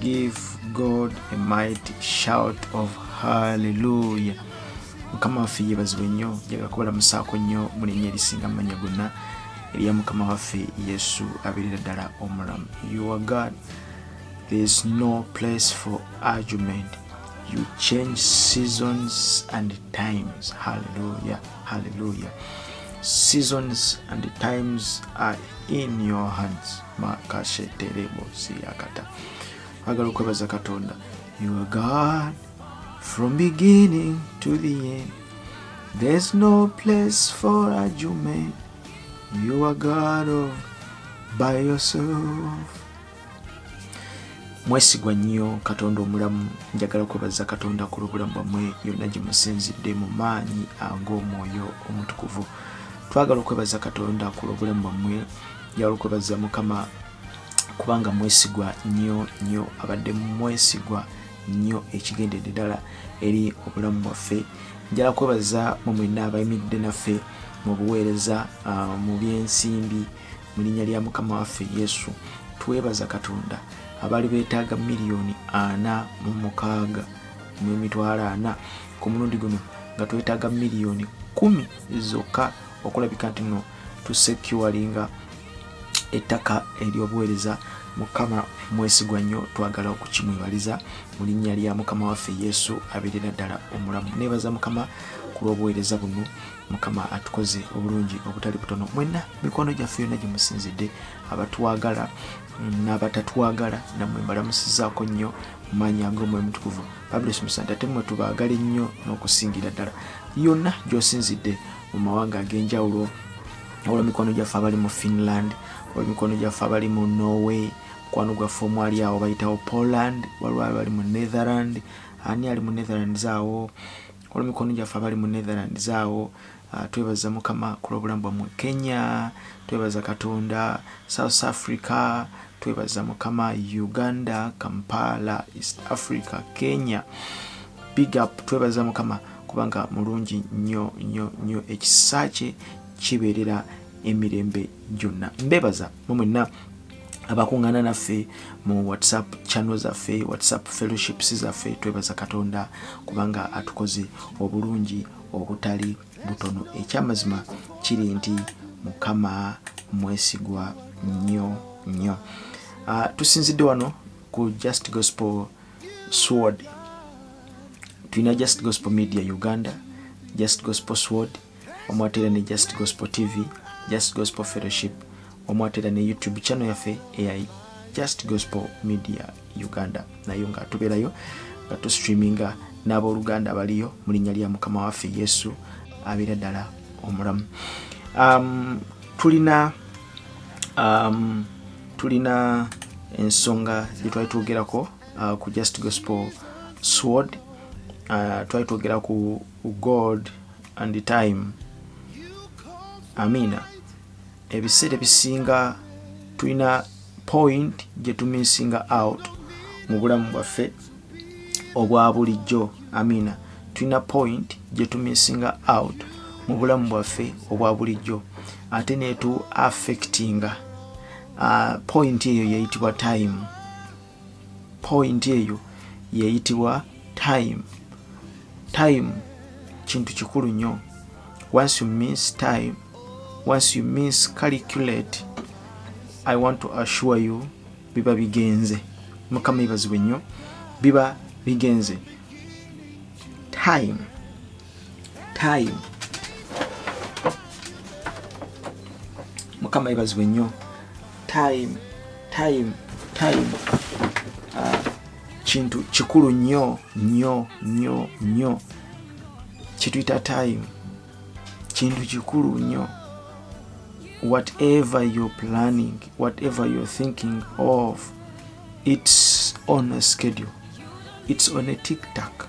Give God a mighty shout of hallelujah. Mukama waffe yebazibwe nnyo njaga kubala musaako nnyo mu linnya erisinga amanya gonna erya mukama waffe yesu abeerera ddala omulamu your god there is no place for argument you change seasons and times hallelujah hallelujah seasons and times are in your hands makasheterebo siyakata agala okwebaza katonda you are god from beginning to the end there's no place for argument you are god of by yourself mwesigwa nnyo katonda omulamu njagala kwebaza katonda ku lwobulamu bwamwe yonna gye musinzidde mu maanyi ag'omwoyo omutukuvu twagala okwebaza katonda ku lwobulamu bwamwe yalukobaza mukama kubanga mwesigwa nnyo nnyo abadde mwesigwa nnyo ekigendedde ddala eri obulamu bwaffe njala kwebaza mu mwenna abayimiridde naffe mu buweereza ah, mu byensimbi mu linnya lya mukama waffe yesu twebaza katonda abaali beetaaga miliyoni ana mu mukaaga mu emitwalo ana ku mulundi guno nga twetaaga miliyoni kumi zokka okulabika nti no to securinga ettaka ery'obuweereza mukama mwesigwa nnyo twagala okukimwebaliza mu linnya lya mukama waffe yesu abeerera ddala omulamu neebaza mukama ku lw'obuweereza buno mukama atukoze obulungi obutali butono mwenna mikwano gyaffe yonna gye musinzidde abatwagala n'abatatwagala namwe mbalamusizaako nnyo maanya ng'omwoyo mutukuvu babulesomesa nti ate mwe tubaagala ennyo n'okusingira ddala yonna gy'osinzidde mu mawanga ag'enjawulo wabula mikwano gyaffe abali mu finland wabula mikwano gyaffe abali mu norway mukwano gwaffe omwali awo bayitawo poland waliwo abali mu netherland ani ali mu netherland zaawo waliwo mikwano gyaffe abali mu netherland zaawo ah, twebaza mukama kulwobulamu bwamwe kenya twebaza katonda south africa Twebaza mukama Uganda Kampala East Africa Kenya big up twebaza mukama kubanga mulungi nyo nyo nyo ekisa kye kibeerera emirembe gyonna mbebaza mwe mwenna abakuŋŋaana naffe mu whatsapp channel zaffe whatsapp fellowships zaffe twebaza katonda kubanga atukoze obulungi obutali butono ekyamazima kiri nti mukama mwesigwa nnyo nnyo uh, tusinzidde wano ku just gospel sword tulina just gospel media uganda just gospel sword omwatera ne just gospel tv just gospel fellowship omwatera ne youtube channel yaffe eya just gospel media uganda nayo nga tubeerayo nga tustreaminga n'abooluganda abaliyo mu linnya lya mukama waffe yesu abeera ddala omulamu um, tulina um, tulina ensonga gye twali twogerako uh, ku just gospel sword uh, twali twogera ku god and the time amina ebiseera ebisinga tulina point gye tumisinga out mu bulamu bwaffe obwa bulijjo amina tulina point gye tumisinga out mu bulamu bwaffe obwa bulijjo ate netu affectinga uh, point eyo yeyitibwa time point eyo yeyitibwa time time kintu kikulu nnyo once you miss time once you miss calculate i want to assure you biba bigenze mukama ibazibwe nnyo biba bigenze time time mukama ibazibwe nnyo time time time ah, kintu kikulu nnyo nnyo nnyo nnyo kituyita time kintu kikulu nnyo whatever you're planning whatever you're thinking of it's on a schedule it's on a tiktak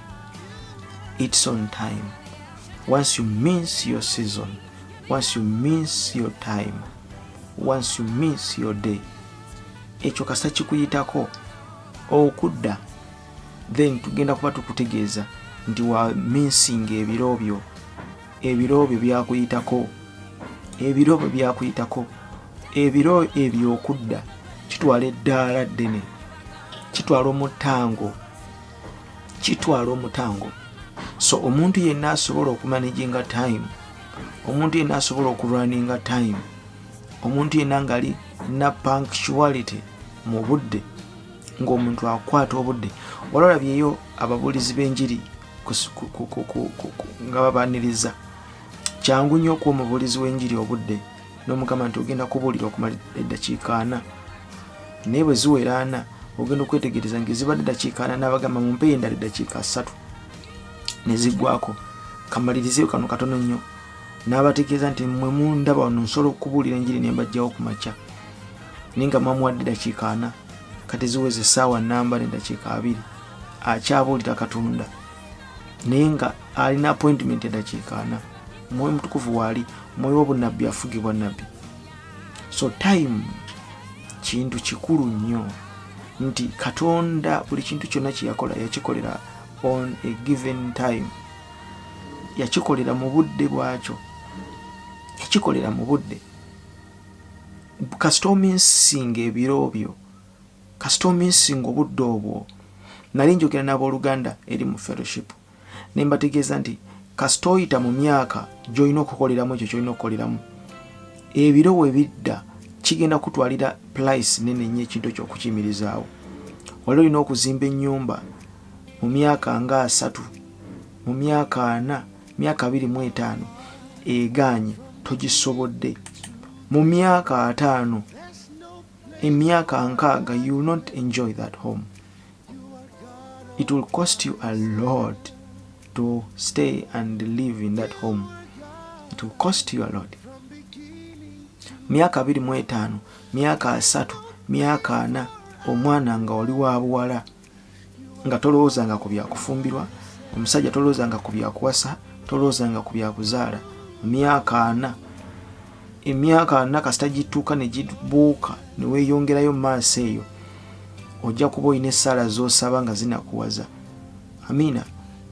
it's on time once you miss your season once you miss your time once you miss your day ekyo kasa kikuyitako okudda then tugenda kuba tukutegeeza nti wa minsinga ebiro byo ebiro byo byakuyitako ebiro byo byakuyitako ebiro ebyokudda kitwala eddaala ddene kitwala omutango kitwala omutango so omuntu yenna asobola okumanaginga time omuntu yenna asobola okulwaninga time omuntu yenna ngali na punctuality mu budde ng'omuntu akwata obudde ololabyeyo ababuulizi b'enjiri nga babaniriza kyangu nnyo okuwa omubuulizi w'enjiri obudde n'omugamba nti ogenda kubuulira okumala eddakiika ana naye bwe ziwera ana ogenda okwetegereza nga ezibadde eddakiika ana n'abagamba mu mpeeyo endala eddakiika ssatu ne ziggwako kamalirizeyo kano katono nnyo n'abategeeza nti mwe mundaba wano nsobola okubuulira enjiri ne mbajjawo ku makya naye nga mwamuwadde eddakiika ana kati ziweza essaawa namba n'eddakiika abiri akyabuulira katonda naye nga alina appointment eddakiika ana omwoyo mutukuvu waali omwoyo w'obunnabbi afugibwa nabbi so time kintu kikulu nnyo nti katonda buli kintu kyonna kyeyakola yakikolera on a given time yakikolera mu budde bwakyo yakikolera mu budde kasita ominsinga ebiro byo kasita ominsinga obudde obwo nali njogera n'abooluganda eri mu fellowship ne mbategeeza nti kasita oyita mu myaka gy'olina okukoleramu ekyo kyolina okukoleramu ebiro we bidda kigenda kutwalira pulaisi nene nnyo ekintu ekyo okukiyimirizaawo wali olina okuzimba ennyumba mu myaka nga asatu mu myaka ana myaka abiri mu etaano egaanye togisobodde mu myaka ataano emyaka nkaaga you not enjoy that home it will cost you a lot to stay and live in that home it will cost you a lot myaka abiri mu etaano myaka asatu myaka ana omwana nga oli wa buwala nga tolowoozanga ku byakufumbirwa omusajja tolowoozanga ku byakuwasa tolowoozanga ku byakuzaala myaka ana emyaka ana kasita gituuka ne gibuuka ne weeyongerayo mu maaso eyo ojja kuba olina essaala z'osaba nga zinakuwaza amiina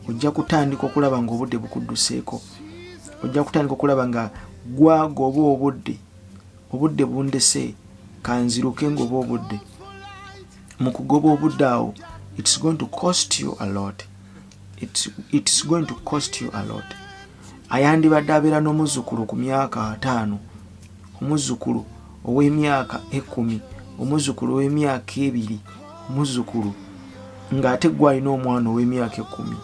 ojja kutandika okulaba ng'obudde bukudduseeko ojja kutandika okulaba nga gwaga oba obudde obudde bundese kanziruke ng'oba obudde mu kugoba obudde awo it's going to cost you a lot it's, it's going to cost you a lot ayandibadde abeera n'omuzzukulu ku myaka ataano omuzzukulu ow'emyaka ekumi omuzzukulu ow'emyaka ebiri omuzzukulu ng'ate gwe alina omwana ow'emyaka ekumi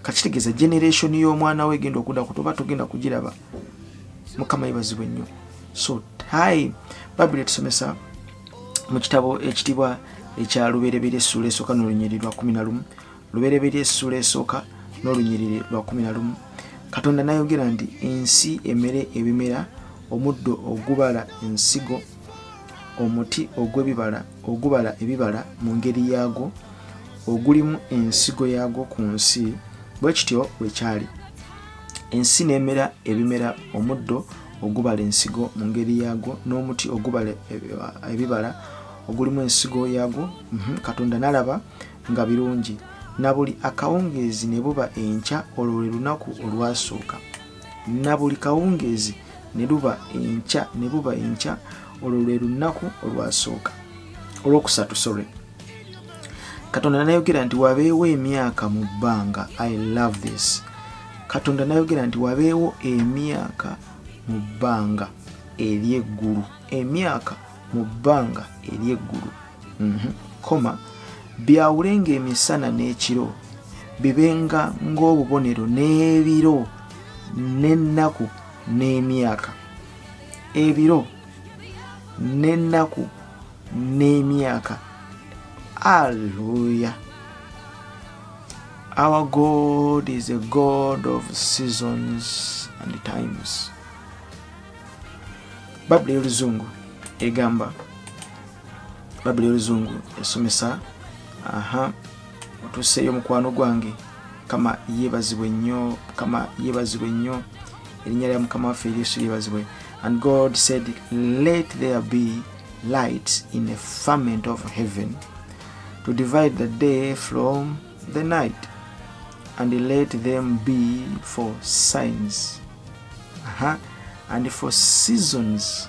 kakitegeeza generation y'omwana we egenda okuda ku toba togenda kugiraba mukama yebazibwe nnyo so time babiri etusomesa mu kitabo ekitibwa ekya luberebera essuula esooka nolunyiriri lwa kumi na lumu lubereberye essuula esooka n'olunyiriri lwa kumi na lumu katonda nayogera nti ensi emere ebimera omuddo ogubala ensigo omuti ogw'ebibala ogubala ebibala mu ngeri yaagwo ogulimu ensigo yaagwo ku nsi bwe kityo bwe kyali ensi n'emera ebimera omuddo ogubala ensigo mu ngeri yaagwo n'omuti ogubala ebibala ogulimu ensigo yaagwo mhm, katonda n'alaba nga birungi na buli akawungeezi ne buba enkya olwo lwe lunaku olwasooka na buli kawungeezi ne luba enkya ne buba enkya olwo lwe lunnaku olwasooka olwokusatu sorry katonda nayogera nti wabeewo emyaka mu bbanga i love this katonda nayogera nti wabeewo emyaka mu bbanga ery'eggulu emyaka mu bbanga ery'eggulu mhm. koma byawulenga emisana n'ekiro bibenga ng'obubonero n'ebiro n'ennaku n'emyaka ebiro n'ennaku n'emyaka alleluya our god is a god of seasons and times babula y'oluzungu egamba babuli oluzungu esomesa aha otuseeyo mukwano gwange kama yebazibwe nnyo kama yebazibwe nnyo erinnya lya mukama waffe yesu yebazibwe and god said let there be light in a ferment of heaven to divide the day from the night and let them be for signs uh -huh. and for seasons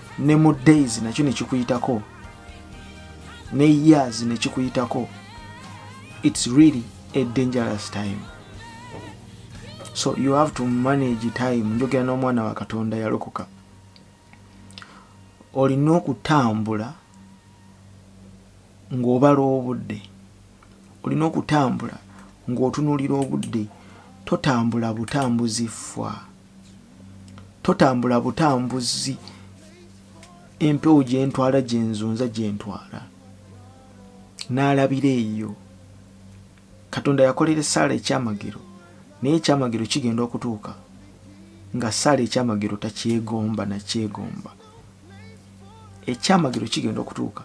ne mu days nakyo nekikuyitako ne years nekikuyitako it's really a dangerous time so you have to manage time njogera n'omwana wa katonda yalokoka olina okutambula ng'obala obudde olina okutambula ng'otunulira obudde totambula butambuzi ffwa totambula butambuzi empewo gyentwala gyenzunza gyentwala n'alabira eyo katonda yakolera esaala ekyamagero naye ekyamagero kigenda okutuuka nga saala ekyamagero takyegomba nakyegomba ekyamagero kigenda okutuuka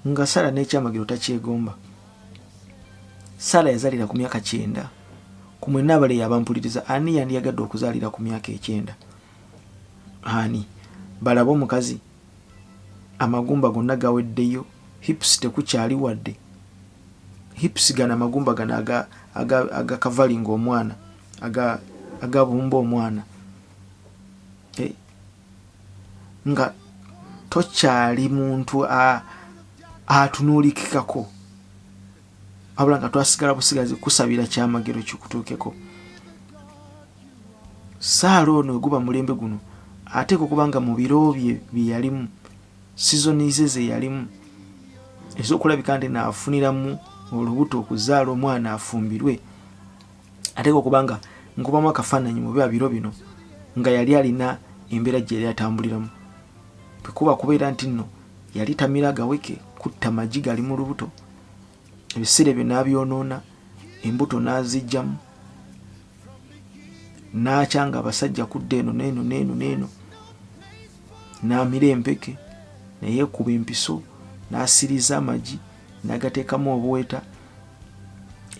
Nga Sara n'ekyamagero takyegomba. Sara yazalira ku myaka kyenda. Ku mwe nabale yabampuliriza ani yandiyagadde okuzalira ku myaka ekyenda? Ani? Balabe omukazi amagumba gonna gaweddeyo hips tekukyali wadde hips gana amagumba gana aga aga aga kavalinga omwana aga agabumba omwana nga tokyali muntu atunuulikikako wabula nga twasigala busigazi kusabira kyamagero kikutuukeko saala ono eguba mulembe guno ateeka okuba nga mu biro bye byeyalimu sizoni ze zeyalimu ezokulabika nti naafuniramu olubuto okuzaala omwana afumbirwe ateeka okuba nga nkubamu akafaananyi mu biba biro bino nga yali alina embeera gye yali atambuliramu bwekuba kubeera nti nno yali tamira gaweke kutta magi gali mu lubuto ebiseera ebyo n'abyonoona embuto n'azijjamu n'akya nga abasajja kudda eno neeno neeno neeno n'amira empeke naye ekuba empiso n'asiriza amagi nagateekamu obuweta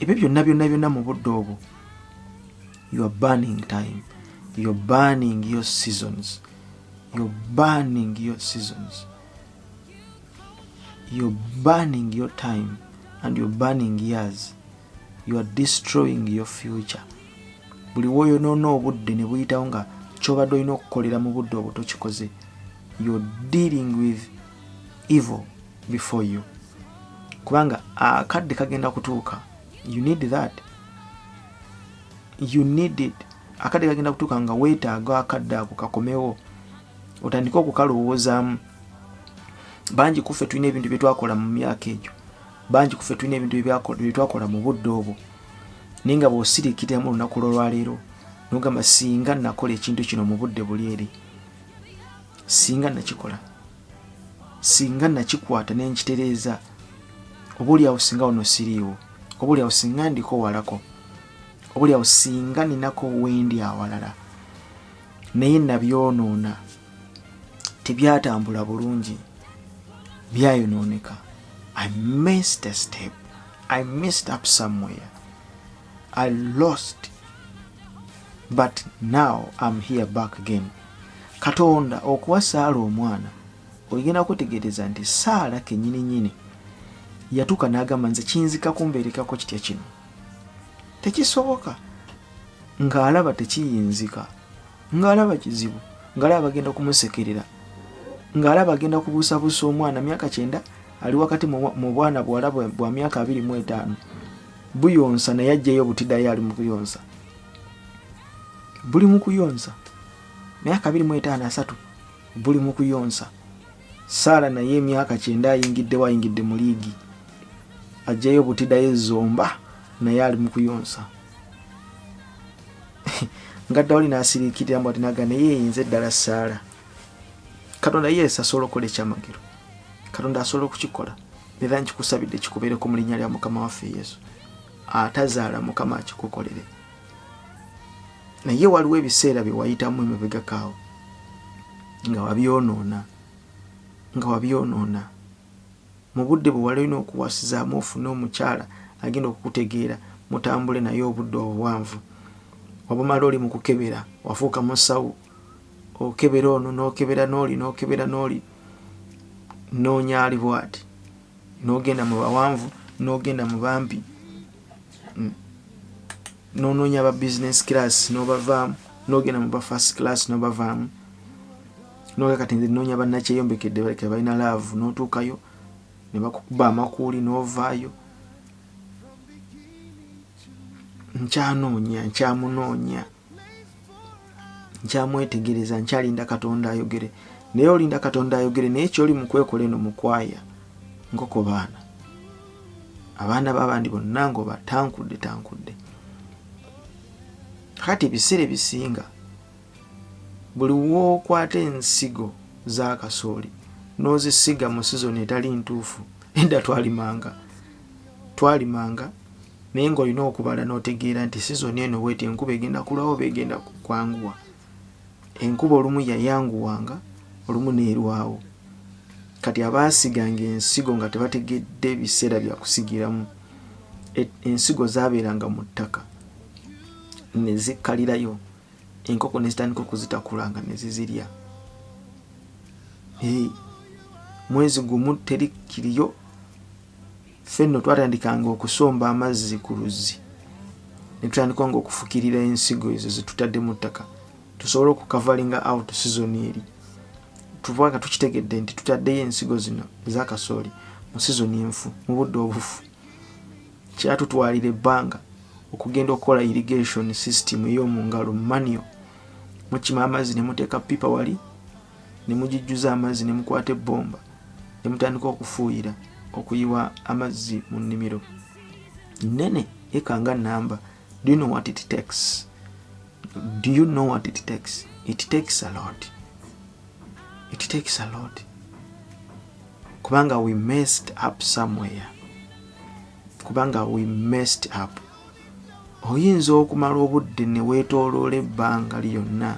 ebyo byonna byonna byonna mu budde obwo your burning time your burning your seasons your burning your seasons your burning your time and your burning years you are destroying your future buli woyonoona obudde ne buyitawo nga kyobadde olina okukolera mu budde obwo tokikoze you're dealing with evil before you kubanga akadde kagenda kutuuka you need that you need it akadde kagenda kutuuka nga weetaaga akadde ako kakomewo otandike okukalowoozaamu bangi kuffe tulina ebintu bye twakola mu myaka egyo bangi kuffe tulina ebintu bye twakola mu budde obwo naye nga bw'osiriikiriramu olunaku lwolwaleero nogamba singa nakola ekintu kino mu budde buli eri singa nakikola singa nakikwata ne nkitereeza oba oli awo singa wano siriiwo oba oli awo singa ndiko walako oba oli awo singa ninako wendi awalala naye nabyonoona tebyatambula bulungi byayonooneka i missed a step i missed up somewhere I lost but now am here back again katonda okuwa saala omwana oyigenda kwetegereza nti saala kenyini nyini yatuuka nagamba nze kinzika kumbeerekako kitya kino tekisoboka ng'alaba tekiyinzika ng'alaba kizibu ng'alaba bagenda kumusekerera ng'alaba agenda kubuusabuusa omwana myaka kyenda ali wakati mu bwana buwala bwa myaka abiri mu etaano buyonsa naye ajjayo obutidayo ali mukuyonsa buli mukuyonsa myaka abiri mwetaano asatu buli mukuyonsa saala naye emyaka kyenda ayingiddewo ayingidde mu liigi ajjayo obutidayo ezomba naye ali mukuyonsa nga dawuli nasirikirira mbu atinaga naye eyinza eddala saala katonda yesu asobola okukola ekyamagero katonda asobola okukikola era nkikusabidde kikubeereko mu linnya lya mukama waffe yesu atazaala mukama akikukolere naye waliwo ebiseera bye wayitamu emabegakaawo nga wabyonoona nga wabyonoona mu budde bwe wali olina okuwasizaamu ofune omukyala agenda okukutegeera mutambule naye obudde obuwanvu wabumala oli mu kukebera wafuuka musawo okebera ono nokebera noli nokebera noli nonya ali bwati nogenda mu bawanvu nogenda mu bampi mm. nononya aba business class nobavaamu nogenda mu ba first class nobavaamu noga kati nze nonya banakyeyombekedde baleke balina laavu notuukayo nebakukuba amakuuli novaayo nkyanoonya nkyamunoonya nkyamwetegereza nkyalinda katonda ayogere naye olinda katonda ayogere naye kyoli mukwekola eno mukwaya nkoko baana abaana babandi bonna ngoba tankudde tankudde kati ebiseera ebisinga buli wookwata ensigo z'akasooli n'ozisiga mu sizoni etali ntuufu edda twalimanga twalimanga naye ng'olina okubala n'otegeera nti sizoni eno bweti enkuba egenda kulwawo oba egenda kwanguwa enkuba olumu yayanguwanga olumu neerwawo kati abaasiganga ensigo nga tebategedde biseera byakusigiramu e, ensigo zabeeranga mu ttaka nezikkalirayo enkoko nezitandika okuzitakula nga nezizirya mwezi gumu teri kiriyo ffe nno twatandikanga okusomba amazzi ku luzzi ne tutandika nga okufukirira ensigo ezo ze tutadde mu ttaka tusobole okukavalinga out season eri tuba nga tukitegedde nti tutaddeyo ensigo zino eza kasooli mu season enfu mu budde obufu kyatutwalira ebbanga okugenda okukola irrigation system ey'omu ngalo mu manio mukima amazzi ne muteeka pipa wali ne mugijjuza amazzi ne mukwata ebbomba ne mutandika okufuuyira okuyiwa amazzi mu nnimiro nnene eka nga namba do you know what it takes do you know what it takes it takes a lot it takes a lot kubanga we messed up somewhere kubanga we messed up oyinza okumala obudde ne weetooloola ebbanga lyonna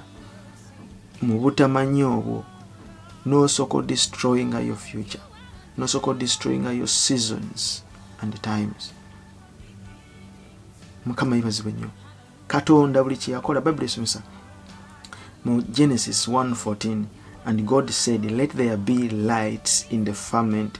mu butamanya obwo n'osoko destroyinga your future n'osoko destroyinga your seasons and times mukama yibazibwe nnyo katonda buli kyeyakola bayibuli esomesa mu genesis 114 and god said let there be lights in the firmament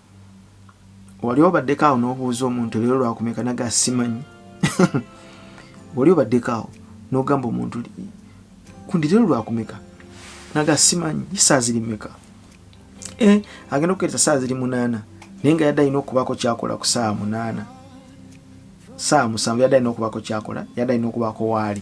wali obaddeko awo n'obuuza omuntu leero lwakumeka naga simanyi wali obaddeko awo n'ogamba omuntu kundi leero lwakumeka naga simanyi saa ziri meka eh, agenda okukereza saa ziri munaana naye nga yadde alina okubaako kyakola ku saawa munaana saawa musanvu yadde alina okubaako kyakola yadde alina okubaako waali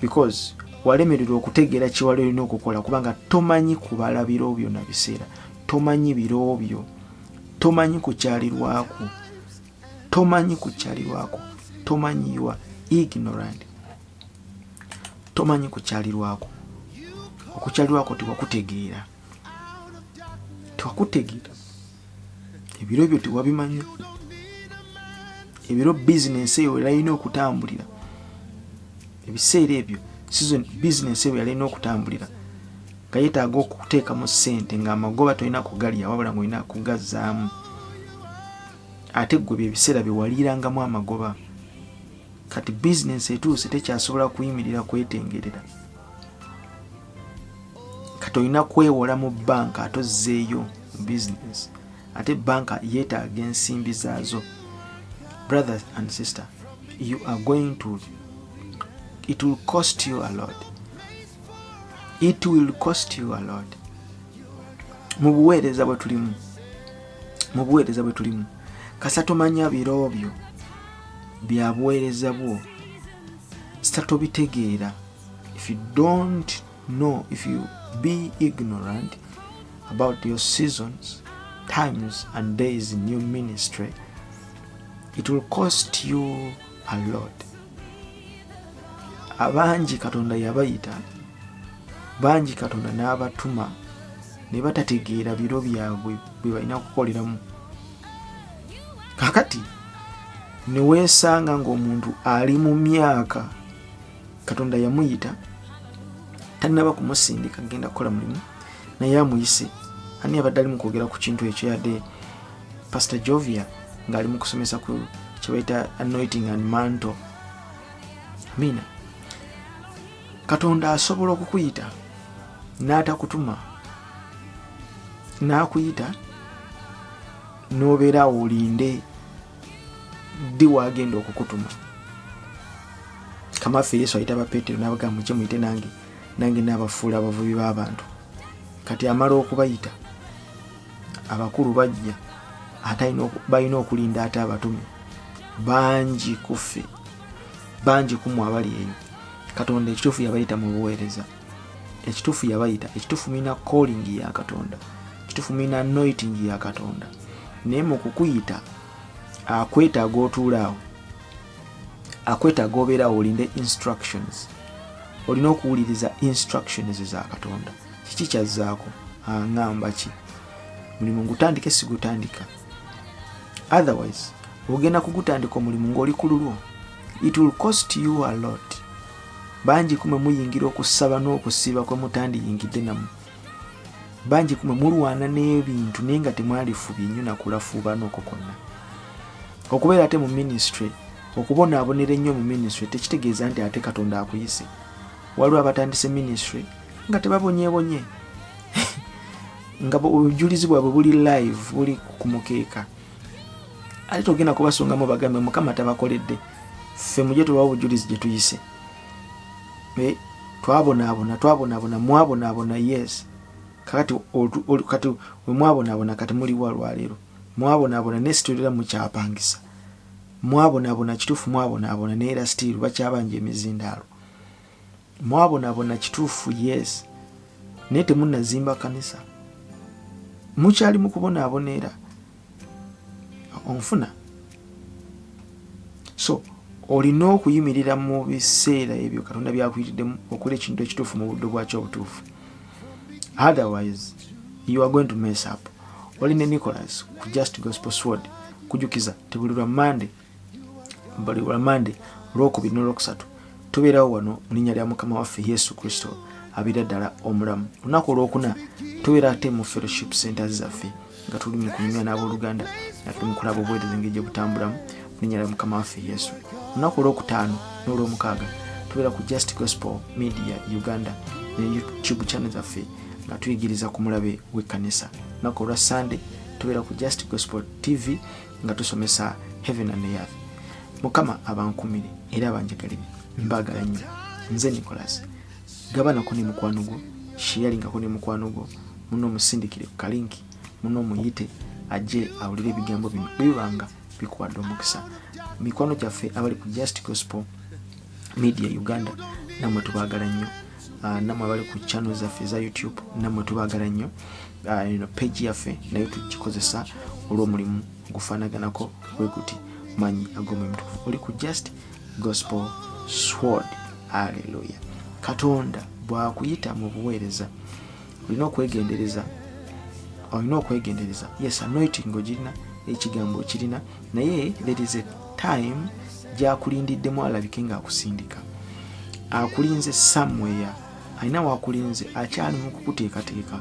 because walemererwa okutegeera kiwala olina okukola kubanga tomanyi kubala biro byo na biseera tomanyi biro byo tomanyi kukyalirwako tomanyi kukyalirwako tomanyi yua ignorant tomanyi kukyalirwako okukyalirwako tewakutegeera tewakutegeera ebiro byo tewabimanya ebiro bizinensi eyo yalina okutambulira ebiseera ebyo sizon bizinensi eyo yalina okutambulira nga yetaaga okuteekamu ssente ngaamagoba tolina kugalya wabula nga olina kugazzaamu ate gwe byebiseera byewaliirangamu amagoba kati bizinensi etuuse tekyasobola kuyimirira kwetengerera kati olina kwewola mu banka ate ozzeeyo mu business ate banka yeetaaga ensimbi zaazo brothers and sister you are going to it will cost you a lot it will cost you a lot mu buweereza bwe tulimu mu buweereza bwe tulimu kasa tomanya biro byo bya buweereza bwo sita tobitegeera if you don't know if you be ignorant about your seasons times and days in your ministry it will cost you a lot abangi katonda yabayita bangi katonda n'abatuma ne batategeera biro byabwe bwe balina okukoleramu kakati neweesanga ng'omuntu ali mu myaka katonda yamuyita tanaba kumusindika genda kukola mulimu naye amuyise ani abadde ali mukwogera ku kintu ekyo yadde pastor jovia ngaali mukusomesa ku kyebaita anointing and manto amina katonda asobola okukuyita n'atakutuma n'akuyita n'obeera awo olinde ddi wagenda okukutuma kamaffe yesu ayita bapetero nabaga muke muyite nange nange nabafuula abavubi b'abantu kati amala okubayita abakulu bajja balina okulinda ate abatume bangi kuffe bangi kumwe abali eyo katonda ekituufu yabayita mu buweereza ekituufu yabayita ekituufu mulina calling ya katonda ekituufu mulina noiting ya katonda naye mu kukuyita akwetaaga otuulaawo akwetaaga obeerawo olinde instructions olina okuwuliriza instructions za katonda kiki kyazzaako aŋamba ki mulimu ngutandike sigutandika otherwise ogenda kugutandika omulimu ng'oli ku lulwo it will cost you a lot bangi kumwe muyingira okusaba n'okusiiba kwe mutandiyingidde namu bangi kumwe mulwana n'ebintu naye nga temwalifubye nnyo nakulafuubaana okwo kwonna okubeera ate mu minisitule okubonaabonera ennyo mu minisitule tekitegeeza nti ate katonda akuyise waliwo abatandise minisitule nga tebabonyebonye nga obujulizi bwabwe buli live buli ku mukeeka ate togenda kubasongamu bagambe mukama tabakoledde ffe muje tubawa obujulizi gye tuyise eh, twabonaabona twabonaabona mwabonaabona yes kakati kati wemwabonaabona kati muliwa lwaleero mwabonaabona naye situlira mukyapangisa mwabonaabona kituufu mwabonaabona naye era sitiiru bakyabanja emizindaalo mwabonabona kituufu yes naye temunazimba kanisa mukyali mukubonabona era onfuna so olina okuyimirira mu biseera ebyo katonda byakuyitiddemu okola ekintu ekituufu mu buddo bwakyo obutuufu otherwise you are going to mess up oli ne nicolas ku just gospel sword kujukiza tebulirwa monday buli lwamande olwokubiri nolwokusatu tubeerawo wano mu linnya lya mukama waffe yesu kristo abeera ddala omulamu olunaku olwokuna tubeera ate mu fellowship centers zaffe nga tuli mu kunyumya n'abooluganda nga tuli mu kulaba obuweereza engeri gye butambulamu mu linnya lya mukama waffe yesu olunaku olwokutaano n'olwomukaaga tubeera ku just gospel media uganda ne youtube channel zaffe nga tuyigiriza ku mulabe w'ekkanisa olunaku olwa sande tubeera ku just gospel tv nga tusomesa heaven and earth mukama abankumire era abanjagalire mbagala nnyo nze nicolas gabanako ne mukwano gwo sheyalingako ne mukwano gwo muno omusindikire ku kalinki muno omuyite ajje awulire ebigambo bino bwebibanga bikuwadde omukisa mikwano gyaffe abali ku just gospel media uganda namwe tubagala nnyo Ah, namwe abali ku channel zaffe eza youtube namwe tubagala nnyo ah, eno page yaffe naye tugikozesa olw'omulimu gufanaganako weguti manyi agomwemutukuvu oli ku just gospel sword aleluya katonda bwakuyita mu buweereza olina okwegendereza olina okwegendereza yes anointing ogirina ekigambo okirina naye there is a time gyakulindiddemu alabike ngaakusindika akulinze somewhere alina wakulinze akyali mukukuteekateeka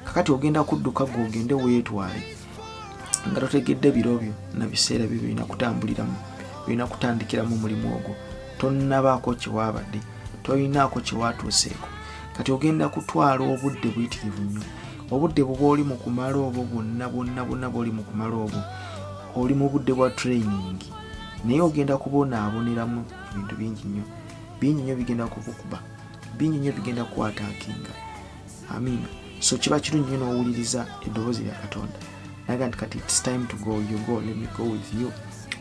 kakati ogenda kudduka gwe ogende weetwale nga totegedde biro byo na biseera byo birina kutambuliramu birina kutandikiramu omulimu ogwo tonnabaako kyewaabadde tolinaako kyewaatuuseeko kati ogenda kutwala obudde buyitirivu nnyo obudde buba oli mu kumala obwo bwonna bwonna bwonna bwoli mu kumala obwo oli mu budde bwa training naye ogenda kubonaaboneramu ebintu bingi nnyo bingi nnyo bigenda kukukuba bingi nnyo bigenda kukwataakinga amiina so kiba kirungi nyo nowuliriza eddoboozi lya katonda naga nti kati its time to go you go let me go with you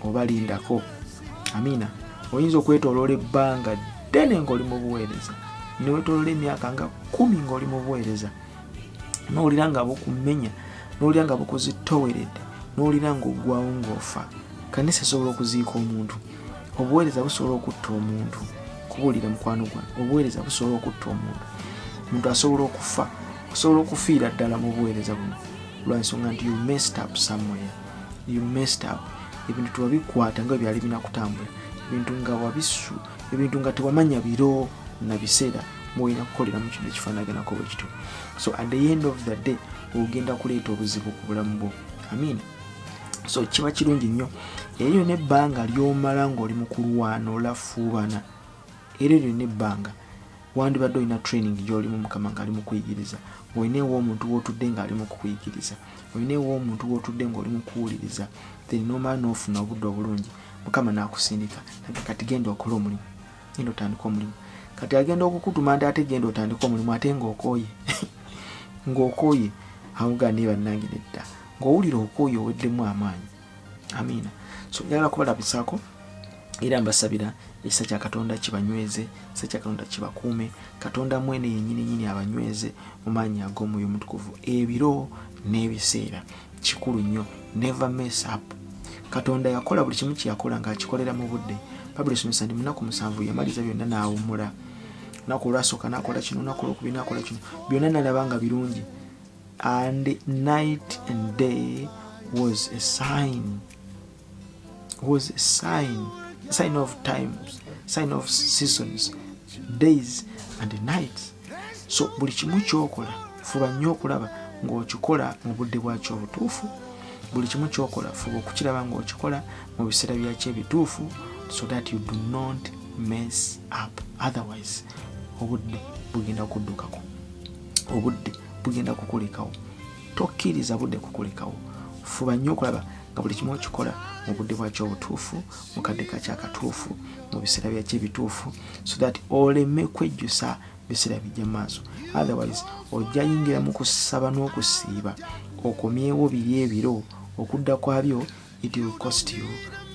oba lindako amiina oyinza okwetoloola ebbanga ddene ngaoli mu buweereza newetoloola emyaka nga kumi ngaoli mu buweereza nowulira nga bukumenya nowulira nga bukuzitoweredde nowulira nga ogwawo ngaofa kanisa esobola okuziika omuntu obuweereza busobola okutta omuntu kubuulira mukwano gwange obuweereza busobola okutta omuntu omuntu asobola okufa osobola okufiira ddala mu buweereza buno lwansonga nti you messed up somewhere you messed up ebintu tewabikwata nga byali binakutambula ebintu nga wabisu ebintu nga tewamanya biro na biseera mulina kukolera mu kintu ekifaanaganako bwe kityo so at the end of the day ogenda kuleeta obuzibu ku bulamu bwo amiina so kiba kirungi nnyo eyo nebbanga lyomala ngaoli mukulwana olafuubana era eryo nebbanga wandibadde olina training gyolimu mukama ngaali mukuyigiriza olina ewa omuntu wotudde ngaali mukukuyigiriza olina ewa omuntu wotudde ngaoli mukuwuliriza then nomala nofuna obudde obulungi mukama nakusindika nage kati genda okola omulimu genda otandika omulimu kati agenda okukutuma nti ate genda otandika omulimu ate ngaokoye ngaokoye awugane bannange nedda ng'owulira okwoyo oweddemu amaanyi amiina so njagala kubalabisaako era mbasabira ekisa kya katonda kibanyweze ekisa kya katonda kibakuume katonda mwene yenyini nyini abanyweze mu maanyi ag'omwoyo omutukuvu ebiro n'ebiseera kikulu nnyo never mess up katonda yakola buli kimu kyeyakola ng'akikolera mu budde babuli esomesa ndi munaku musanvu yamaliza byonna n'awummula naku olwasooka nakola kino naku olwokubiri nakola kino byonna nalaba nga birungi and night and day was a sign was a sign sign of times sign of seasons days and nights so buli kimu kyokola fuba nnyo okulaba ng'okikola mu budde bwakyo obutuufu buli kimu kyokola fuba okukiraba ng'okikola mu biseera byakyo ebituufu so that you do not mess up otherwise obudde bugenda kuddukako obudde bugenda kukulekawo tokkiriza budde kukulekawo fuba nnyo okulaba nga buli kimu okikola mu budde bwakyo obutuufu mu kadde kakyo akatuufu mu biseera byakyo ebituufu so that oleme kwejjusa biseera bijja mu maaso otherwise ojja yingira mu kusaba n'okusiiba okomyewo biri ebiro okudda kwabyo it will cost you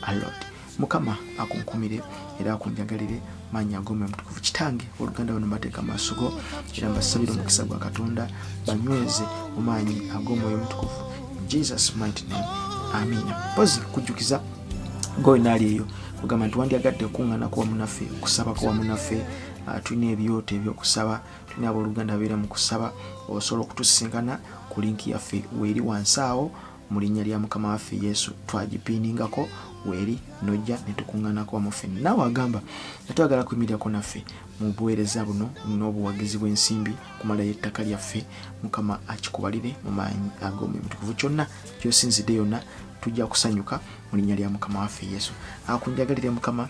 a lot mukama akunkumire era akunjagalire manya gome mutukuvu kitange oluganda bano mateeka maaso go era mbasabire omukisa gwa katonda banyweze omaanyi ag'omwoyo mutukuvu jesus might name amiina pozi kujjukiza ngoyo naali eyo kugamba nti wandyagadde okuŋŋanako wamu naffe okusabako wamu naffe ah, tulina ebyoto ebyokusaba tulina abooluganda beera mu kusaba osobola okutusisinkana ku linki yaffe weeri wansi awo mu linnya lya mukama waffe yesu twagipiiningako weeri nojja netukuŋŋanako wamu ffe naawe agamba nga twagala kuyimirirako naffe mu buweereza buno n'obuwagizi bw'ensimbi kumala y'ettaka lyaffe mukama akikubalire mu maanyi ag'omwoyo mutukuvu kyonna kyosinzidde yonna tujja kusanyuka mu linnya lya mukama waffe yesu akunjagalire mukama